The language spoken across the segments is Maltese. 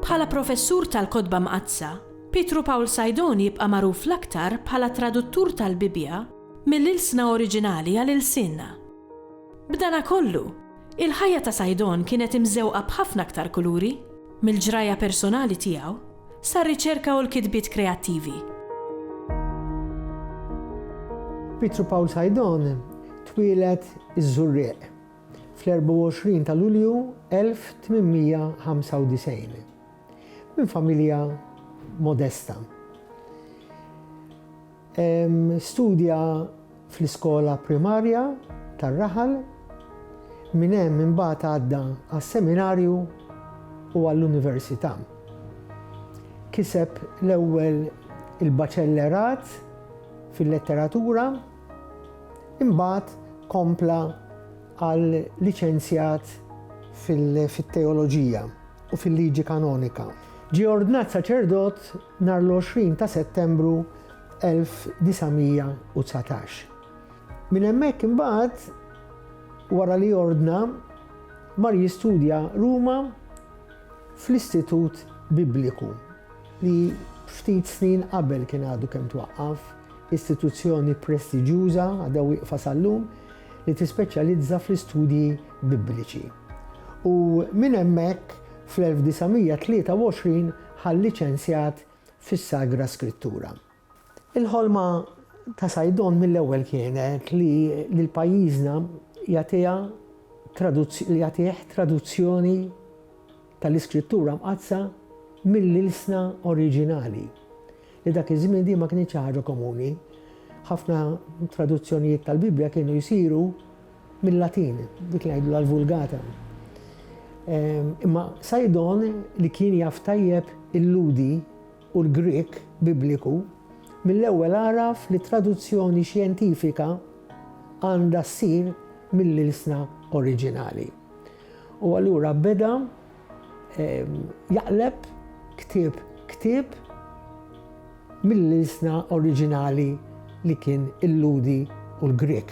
Bħala professur tal-Kotba Mqaddsa, Pietru Pawl Sajdon jibqa' magħruf l-aktar bħala traduttur tal-Bibbja mill-ilsna oriġinali għal ilsienna. B'danakollu, Il-ħajja ta' Saidon kienet imżewqa b'ħafna aktar kuluri. Mill-ġrajja personali tiegħu, sar-riċerka u l-kitbiet kreattivi. Pietru Paul Saidon twieled iż-Żurrieq, fl-24 ta' Lulju 1895, minn familja modesta. Studja fl-iskola primarja tar-raħal, minn hemm imbagħad għadda għas-seminarju u għall-università. Kiseb l-ewwel il-baċellerat fil-letteratura, imbagħad kompla għal liċenzjat fit-teoloġija u fil-liġi kanonika. Ġie ordnat saċerdot Nhar l-20 ta' Settembru 1919. Minn hemmhekk imbagħad, wara li ordna, mar jistudja Ruma fl-Istitut Bibliku, li ftit snin qabel kien għadu kemm twaqqaf, istituzzjoni prestiġjuża, għadha wieqfa sal-lum, li tispeċjalizza fl-istudji Bibliċi. U minn hemmhekk, fl-1923, bħal liċenzjat fis-Sagra Skrittura. Il-ħolma ta' Saidon mill-ewwel kienet li lil pajjiżna jagħtiha li jagħtih traduzzjoni tal-Iskrittura Mqaddsa mill-ilsna oriġinali, li dak iż-żmien din ma kinitx ħaġa komuni. Ħafna traduzzjonijiet tal-Bibbja kienu jsiru Mil-Latin, dik li ngħidulha l-Vulgata. Imma Sajdon li kien jaf tajjeb il-Lhudi u l-Grieg Bibliku, mill-ewwel għaraf li traduzzjoni xjentifika għandha ssir mill-ilsna oriġinali. U allura beda jaqleb ktieb ktieb mill-ilsna oriġinali li kien il-Ludi u l-Grieg.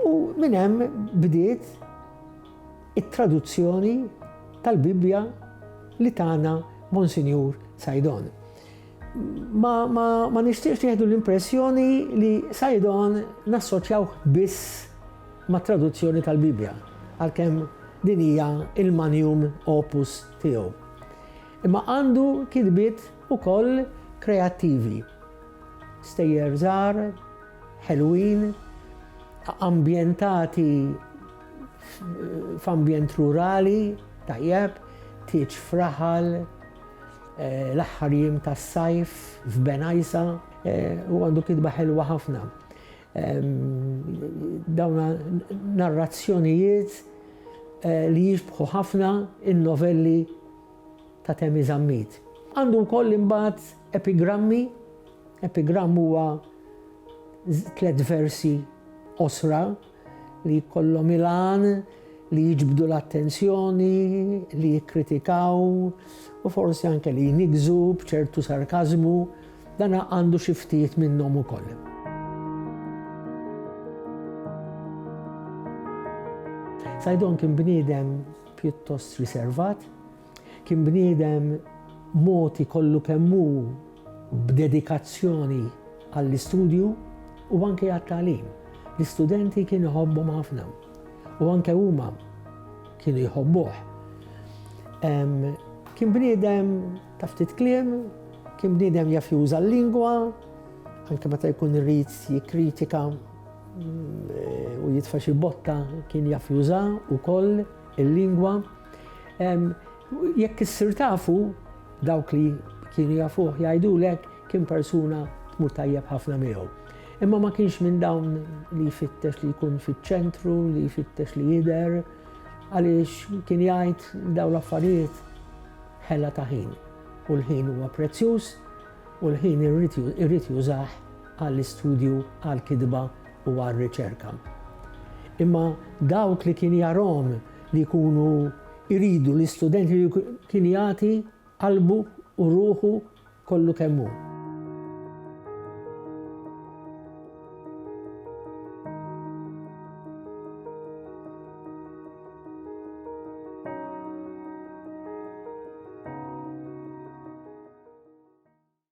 U minn hemm bdiet it-traduzzjoni tal-Bibbja li tagħna Monsinjur Sajdon. Ma, ma, ma nixtieqx tieħdu l-impressjoni li Sajdon nassoċjawh biss mat-traduzzjoni tal-Bibbja, għalkemm din hija il-manium opus tiegħu. Imma għandu kitbiet ukoll kreattivi. Stejjer żgħar, ħelwin, ambjentati f'ambjent rurali, tajjeb, tieġ fraħal, L-aħħar jiem tas-sajf f'Benajsa u għandu kitba ħelwa ħafna. Dawn narrazzjonijiet li jixbħu ħafna n-novelli ta' Temi Zammit. Għandu wkoll imbagħad epigrammi, epigramm huwa tliet versi qosra li jkollhom il-għan li jiġbdu l-attenzjoni, li jikkritikaw u forsi anke li jniggżu b'ċertu sarkażmu, dan għandu xi ftit minnhom ukoll. Saidon kien bniedem pjuttost riservat, Kien bniedem mogħti kollu kemm hu b'dedikazzjoni għall-istudju u anke għat-tagħlim. L-istudenti kien iħobbhom ħafna u anke huma kienu jħobbuh. Kien bniedem ta' ftit kliem, kien bniedem jaf juża l-lingwa, anke meta jkun irrid jikkritika mm, u jitfa' xi botta kien jaf juża wkoll. Il-lingwa, jekk issir tafu dawk li kienu jafuh jgħidulek kien persuna tmur tajjeb ħafna miegħu. Imma ma kienx minn dawn li jfittex li jkun fiċ-ċentru, li jfittex li jidher, għaliex kien jgħid dawn l-affarijiet ħella ta' ħin. U l-ħin huwa prezzjuż u l-ħin irrid jużah għall-istudju, għall-kidba, u għar-riċerka. Imma dawk li kien jarhom li jkunu jridu l-istudenti li kien jagħti qalbu u ruħu kollu kemm hu.